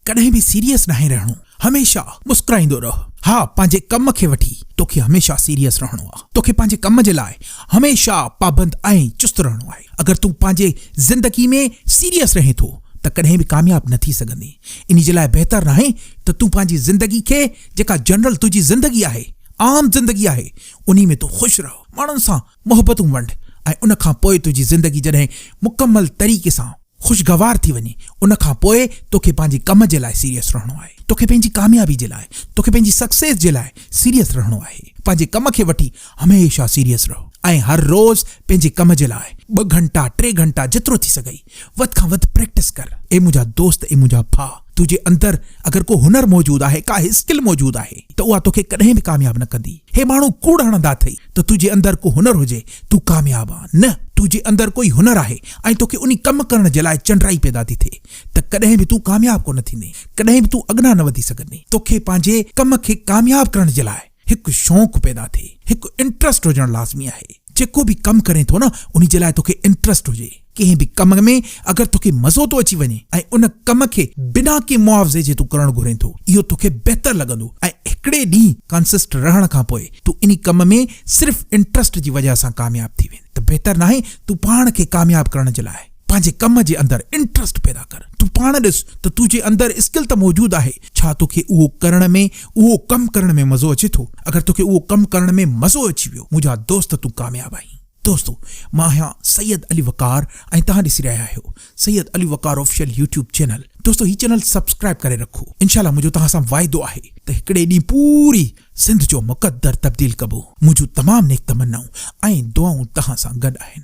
ڪڏهن به سيريس ناهي رهڻو هميشه مسڪرائيندو رهه ها پنهنجي ڪم کي وٺي توکي هميشه سيريس رهڻو آهي توکي پنهنجي ڪم جي لاء هميشه پابند ۽ چست رهڻو آهي اگر تون پنهنجي زندگي ۾ سيريس رهين ٿو ته ڪڏهن به ڪامياب نه ٿي سگهندي انهي جي لاء بهتر ناهي ته تون پنهنجي زندگي کي جيڪا جنرل تنهنجي زندگي آهي عام زندگي آهي انهي ۾ تون خوش رهه ماڻهن سان محبتون ونڊ ۽ ان کان پوء تنهنجي زندگي جڏهن مڪمل طريقي سان خوشگوار ٿي وڃي ان کان پوء توکي پنهنجي ڪم جي لاء سيريس رهڻو آهي توکي پنهنجي ڪاميابي جي لاء توکي پنهنجي سڪسيس جي لاء سيريس رهڻو آهي پنهنجي ڪم کي وٺي هميشه سيريس رهو ۽ هر روز پنهنجي ڪم جي لاء ٻه گهنٽا ٽي گهنٽا جيترو ٿي سگهئي وڌ کان وڌ پريڪٽس ڪر اي منهنجا دوست اي منهنجا ڀا. تو جي اندر اگر ڪو هنر موجود آهي، ڪا اسڪل موجود آهي ته اها توکي ڪڏهن به ڪامياب نه ڪندي. هي ماڻهو ڪوڙ هڻندا اٿئي ته تو جي اندر ڪو هنر هجي، تون ڪامياب آن نه، تو جي اندر ڪوئي هنر آهي ۽ توکي انهي ڪم ڪرڻ جي لاء چنڊرائي پيدا ٿي ٿئي ته ڪڏهن به تون ڪامياب ڪونه ٿيندين، ڪڏهن به تون اڳنا نه وڌي سگهندين. توکي پنهنجي ڪم کي ڪامياب ڪرڻ جي لاء. هڪ شوق پيدا ٿئي، هڪ انٽرسٽ هجڻ لازمي آهي، جيڪو به ڪم ڪرين ٿو نه انهي جي لاء توکي انٽرسٽ هجي، ڪنهن به ڪم ۾ اگر توکي مزو ٿو اچي وڃي ۽ ان ڪم کي بنا ڪنهن معاوضي جي تون ڪرڻ گهرين ٿو اهو توکي بهتر لڳندو ۽ هڪڙي ڏينهن ڪانسسٽ رهڻ کان پوء تون انهي ڪم ۾ صرف انٽرسٽ جي وجهه سان ڪامياب ٿي ويندي ته بهتر ناهي تون پاڻ کي ڪامياب ڪرڻ جي لاء پنهنجي ڪم جي اندر انٽرسٽ پيدا ڪر. تون پاڻ ڏس ته تو جي اندر اسڪل ته موجود آهي، ڇا تو کي اهو ڪرڻ ۾ اهو ڪم ڪرڻ ۾ مزو اچي ٿو؟ اگر تو کي اهو ڪم ڪرڻ ۾ مزو اچي ويو منهنجا دوست تون ڪامياب آهين. دوستو مان آهيان سيد علي وقار ۽ توهان ڏسي رهيا آهيو Syed Ali Waqar official YouTube channel دوستو هي چينل سبسڪرائب ڪري رکو انشاء الله منهنجو توهان سان واعدو آهي ته هڪڙي ڏينهن پوري سنڌ جو مقدر تبديل ڪبو منهنجون تمام نيڪ تمنائون ۽ دعائون توهان سان گڏ آهن.